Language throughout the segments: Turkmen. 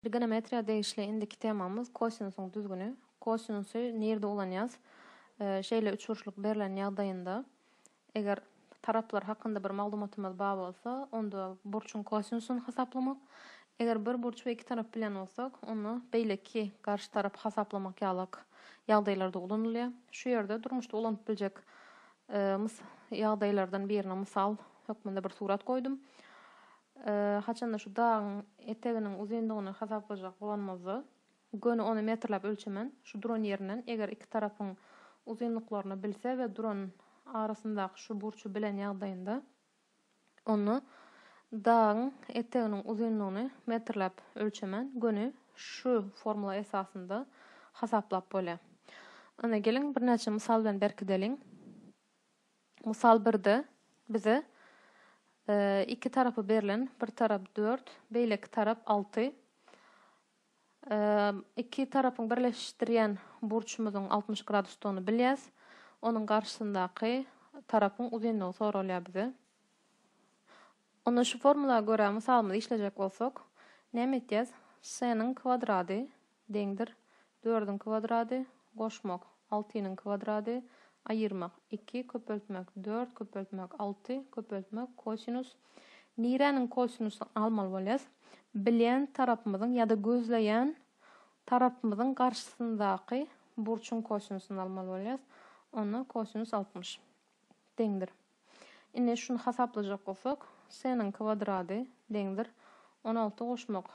Trigonometriýa degişli indiki temamyz kosinusyň düzgüni. Kosinusy nirde ulanýas? Şeýle üçburçluk berlen ýagdaýynda, eger taraplar hakynda bir maglumatymyz bar bolsa, onda burçuň kosinusyny hasaplamak, eger bir burç we iki tarap bilýän bolsak, onda beýleki garşy tarap hasaplamak ýalak ýagdaýlarda ulanylýar. Şu ýerde durmuşda ulanyp biljek ýagdaýlardan birine mysal hökmünde bir surat goýdum. Haçanda şu dagyň eteginiň uzynlygyny hasaplajak bolanymyzda, göni ony metrläp ölçemen, şu duran ýerinden, eger iki tarapyň uzynlyklaryny bilse we duran arasyndaky şu burçy bilen ýagdaýynda, onda dagyň eteginiň uzynlygyny metrläp ölçemen, göni şu formula esasynda hasaplap bolýar. Ine, geliň, birnäçe mysal bilen berkideliň. Mysal birde bize iki tarapy berlen, bir tarap dört, beýleki tarap alty. Iki tarapyň birleşdirýän burçumyzyň altmyş gradusdygyny bilýäs. Onuň garşysyndaky tarapyň uzynlygy soralýar bize. Onda şu formula görä mysalymyzy işlejek bolsak, näme etýäs? Seniň kwadrady Deňdir. Dördüň kwadrady, goşmak, altynyň kwadrady, aýyrmak, iki, köpeltmek, dört, köpeltmek, alty, köpeltmek, kosinus, niräniň kosinusyny almaly bolýas, bilýän tarapymyzyň ýa-da gözleýän tarapymyzyň garşysyndaky burçuň kosinusyny almaly bolýas, onda kosinus altmyş. deňdir. Indi şuny hasaplajak bolsak, C-niň kwadrady deňdir on alty goşmak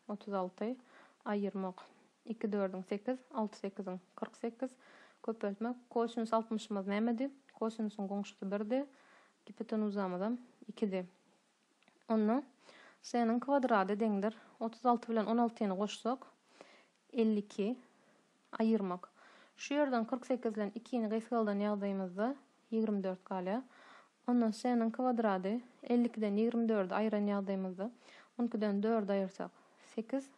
otuz alty aýyrmak iki dördüň sekiz alty sekiziň kyrk sekiz köpeltmek kosinus altmyşymyz nämedi? Kosinusyň goňşusy birdi, gipotenuzamyzam ikidi. Onda C-niň kwadrady deňdir otuz alty bilen on altyny goşsak, elli iki, aýyrmak. Şu ýerden kyrk sekizden ikini gysgaldan ýagdaýymyzda ýigrimi dört galýar. Onda C-niň kwadrady elli ikiden ýigrimi dördi aýyran ýagdaýymyzda, on ikiden dördi aýyrsak, sekiz,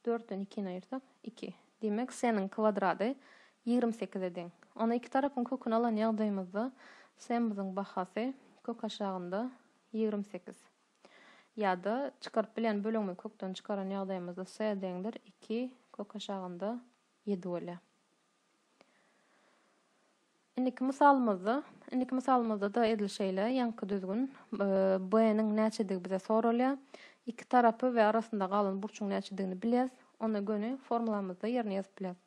dörtden ikini aýyrsak, iki. Diýmek, C-niň kwadrady ýigrimi sekize deň. Onda iki tarapyň köküni alan ýagdaýymyzda, C-miziň bahasy kök aşagynda. Ýigrimi sekiz. Ýa-da, çykaryp bilýän bölegimizi kökden çykaran ýagdaýymyzda s deňdir iki kök aşagynda ýedi bolýar. Indiki mysalymyzda, indiki mysalymyzda-da edil şeýle, ýaňky düzgün, b-niň näçedigi bize soralýar. Iki tarapy we arasynda galan burçuň näçedigini bilýäs. Onda göni formulamyzda ýerine ýazyp bilýäs.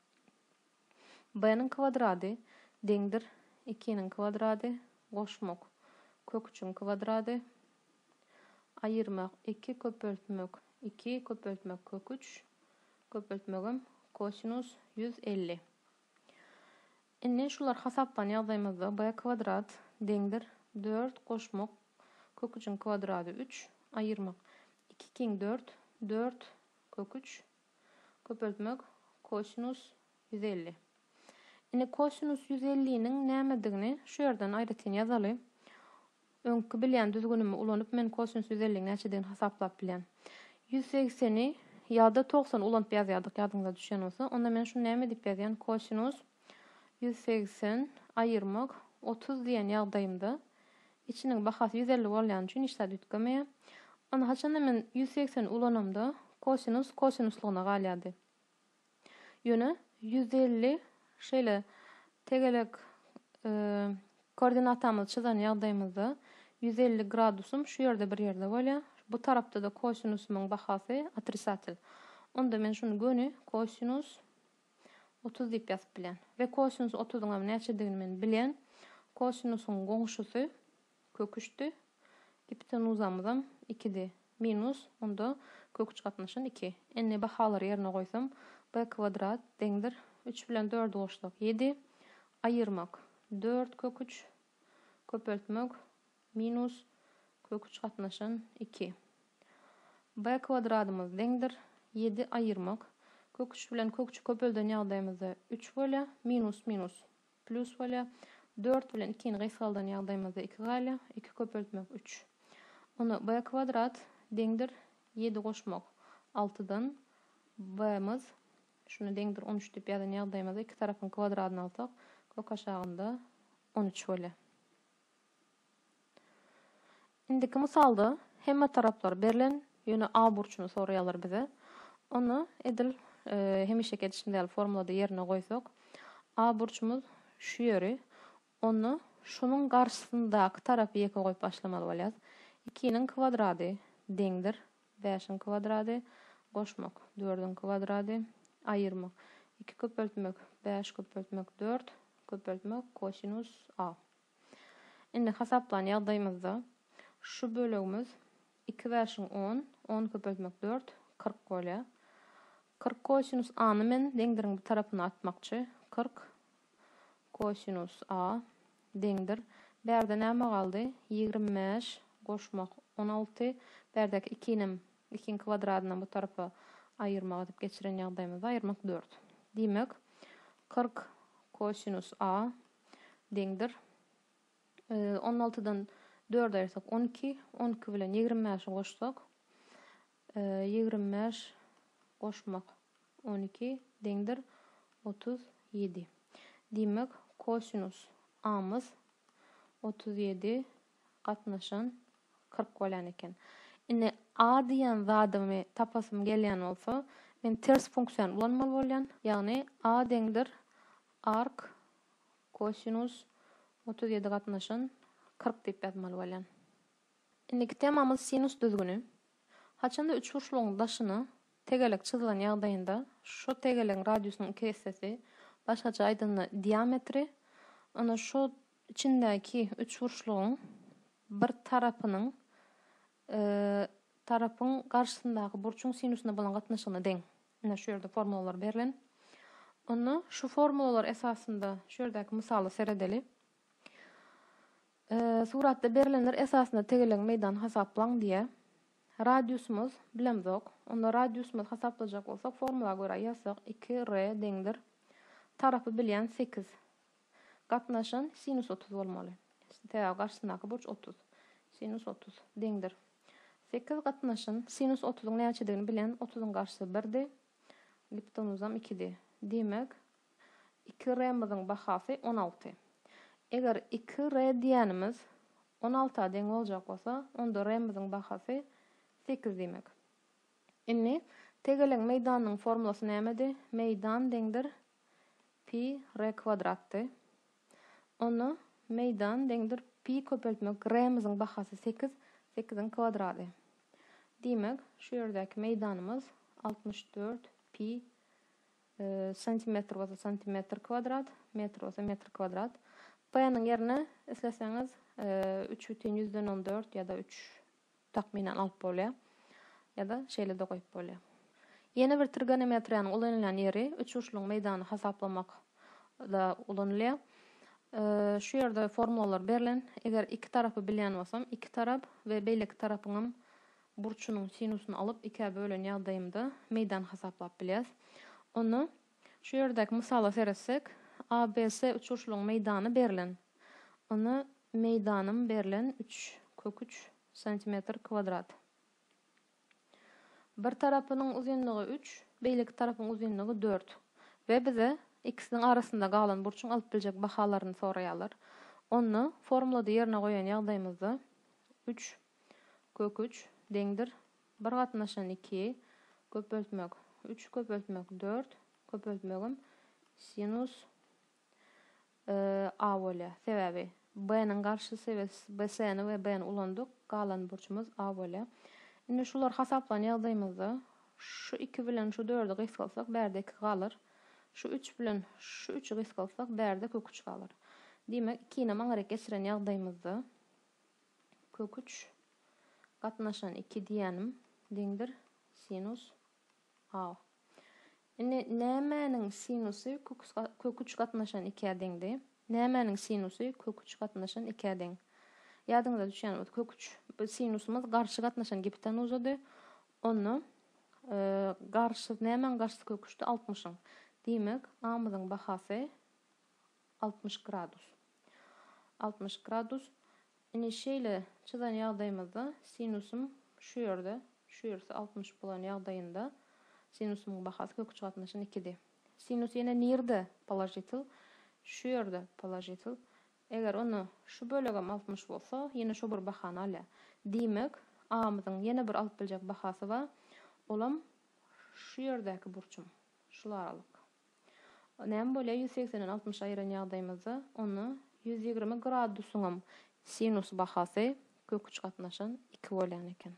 B-niň kwadrady deňdir ikiniň kwadrady goşmak kök üçiň kwadrady aýyrmak iki köpeltmek iki köpeltmek kök üç köpeltmegem kosinus ýüz elli. Indi şular hasaplany ýagdaýymyzda B kwadrat deňdir dört goşmak kök üçiň kwadrady üç aýyrmak iki kiň dört dört kök üç Köpeltmek, Kosinus ýüz elli. Indi kosinus ýüz elliniň nämedigini şu ýerden aýratyn ýazaly. Öňki bilýän düzgünimi ulanyp men kosinus ýüz elliniň näçedigini hasaplap bilýän. Ýüz segseni ýa-da togsany ulanyp ýazýardyk ýadyňyza düşen bolsa. Onda men şuny näme diýip ýazýan, kosinus ýüz segsen aýyrmak otuz diýen ýagdaýymda Içiniň bahasy ýüz elli bolýany üçin hiç zat üýtgemeýär. Ony haçanda men ýüz segsen ulanamda, kosinus kosinuslygyna galýardy. Ýöne ýüz elli şeýle tegelek koordinatamyzy çyzan ýagdaýymyzda ýüz elli gradusym şu ýerde bir ýerde bolýar. Bu tarapda-da kosinusymyň bahasy otrisatel. Onda men şuny göni kosinus Otuz diýip ýazyp bilen. We kosinus otuzyňam näçedigini men bilen. Kosinusyň goňşusy kök üçdi. Gipotenuzamyzam ikidi. Minus, onda kök üç gatnaşan iki. Indi bahalary ýerine goýsam, b kwadrat deňdir üç bilen dördi goşsak ýedi. Aýyrmak, dört kök üç. Köpeltmek, Minus, köküç gatnaşan, iki. B kwadradymyz deňdir, ýedi aýyrmak, köküç bilen köküçi köpelden ýagdaýymyzda üç bolýar, minus minus plýus bolýar, dört bilen ikini gysgaldan ýagdaýymyzda iki galýar, iki köpeltmek, üç. Onda B kwadrat deňdir, ýedi goşmak, altydan, B-miz, şuna deňdir, on üç diýip ýazan ýagdaýymyzda iki tarapyň kwadradyny alsak, kök aşagynda on üç bolýar. Indiki mysalda hemme taraplar berlen, ýöne A burçuny soraýarlar bize. Onda edil hemişeki edişimiz ýaly formulada ýerine goýsak, A burçumyz şu ýeri, onda şunuň garşysyndaky tarapy ýeke goýup başlamaly bolýarys. Ikiniň kwadrady deňdir bäşiň kwadrady, goşmak, dördüň kwadrady, aýyrmak, iki köpeltmek, bäş köpeltmek, dört, köpeltmek, kosinus A. Indi hasaplan ýagdaýymyzda şu bölegimiz iki bäşiň on, on köpeltmek dört, kyrk bolýar. Kyrk kosinus A-ny men deňdiriň bu tarapyna atmakçy. Kyrk kosinus A deňdir. Bärde näme galdy? Ýigrimi bäş goşmak on alty. Bärdäki ikinem ikiň kwadradyndan bu tarapa aýyrmak edip geçiren ýagdaýymyzda aýyrmak dört. Diýmek, kyrk kosinus A deňdir. On altydan dördi aýyrsak, on iki. On iki bilen ýigrimi bäşi goşsak, ýigrimi bäş goşmak on iki deňdir otuz ýedi. Diýmek, kosinus amyz otuz ýedi gatnaşan kyrk bolýan eken. Indi a diýen zadymy tapasym gelýän bolsa, men ters funksiýany ulanmaly bolýan. Ýagny a deňdir Ark, kosinus otuz ýedi gatnaşan kyrk diýip ýazmaly bolýan. Indiki temamyz sinus düzgüni. Haçanda üçburçlugyň daşyna tegelek çyzylan ýagdaýynda şo tegelegiň radiusynyň iki essesi, başgaça aýdanda diametri, onda şo içindäki üçburçlugyň bir tarapynyň tarapyň garşysyndaky burçuň sinusyna bolan gatnaşygyna deň. Ine şu ýerde formulalar berlen. Onda şu formulalar esasynda şu ýerdäki mysala seredeli. Suratda berlenler esasynda tegelegiň meýdany hasaplaň diýýär. Radiusymyz bilemzok. Onda radiusymyzy hasaplajak bolsak, formula görä ýazsak 2R deňdir. Tarapy bilýän 8. Gatnaşan sinus otuz bolmaly. Sebäbi garşysyndaky burç otuz. Sinus otuz. Deňdir. Sekiz gatnaşan sinus otuzyň näçedigini bilen, otuzyň garşysy birdi. Giptonuzam ikidi. Diýmek, iki r-myzyň bahasy on alty. Eger iki r diýýänimiz on alta deň boljak bolsa, onda r-myzyň bahasy sekiz diýmek. Indi tegelegiň meýdanynyň formulasy nämedi? Meýdan deňdir Pi re kwadratdy. Onda meýdan deňdir pi köpeltmek remyzyň bahasy sekiz, sekiziň kwadrady. Diýmek, şu ýerdäki meýdanymyz altmyş dört pi santimetr bolsa santimetr kwadrat, metr bolsa metr kwadrat. P-niň ýerine isleseňiz üç bütin ýüzden on dört ýa-da üç takmynan alyp bolýar. Ýa-da şeýle-de goýup bolýar. Ýene bir trigonometriýanyň ulanylýan ýeri üçburçlugyň meýdanyny hasaplamakda ulanylýar. Şu ýerde formulalar berlen. Eger iki tarapy bilýän bolsam, iki tarap we beýleki tarapyňam burçunyň sinusyny alyp ikä bölen ýagdaýymda meýdan hasaplap bilýäs. Onda Şu ýerdäki mysala seretsek, ABS uçuşlygyň meýdany berlen. Ony meýdanym berlen üç kök üç santimetr kwadrat. Bir tarapynyň uzynlygy üç, beýleki tarapyň uzynlygy dört we bize ikisiniň arasynda galan burçuň alyp biljek bahalaryny soraýarlar. Onda formulada ýerine goýan ýagdaýymyzda üç kök üç deňdir Bir gatnaşan iki, köpeltmek üç, köpeltmek dört, köpeltmegim sinus a bolýar. Sebäbi b-niň garşysy we bc-ni we b-ni ulandyk, galan burçumyz a bolýar. Indi şular hasaplan ýagdaýymyzda şu iki bilen şu dördi gysgalsak, bärde iki galar. Şu üç bilen şu üçi gysgalsak, bärde kök üç galar. Diýmek, ikinem aňryk geçiren ýagdaýymyzda, kök üç gatnaşan iki diýänim deňdir sinus a. Indi nämäniň sinusy kök üç gatnaşan ikä deňdi? Nämäniň sinusy kök üç gatnaşan ikä deň? Ýadyňyza düşýän bolsa, kök üç sinusymyz garşy gatnaşan gipotenuzady. Onda garşy nämäň garşysy kök üçdi? Altmyşyň. Diýmek, a-myzyň bahasy Altmyş gradus. Altmyş gradus. Ine şeýle çyzan ýagdaýymyzda sinusym şu ýerde, şu ýersi altmyş bolan ýagdaýynda sinusymyň bahasy kök üçgatnaşyň ikidi. Sinus ýene nirde položitel? Şu ýerde položitel. Eger onda şu bölegem altmyş bolsa, ýene şo bir bahany alýar. Diýmek, A-myzyň ýene bir alyp biljek bahasy bar, olam şu ýerdäki burçum, şul aralyk. Näme bolýar ýüz segsenden altmyşa aýyran ýagdaýymyzda? Onda ýüz ýigrimi gradusyňam sinus bahasy kök üç gatnaşan iki bolýan eken.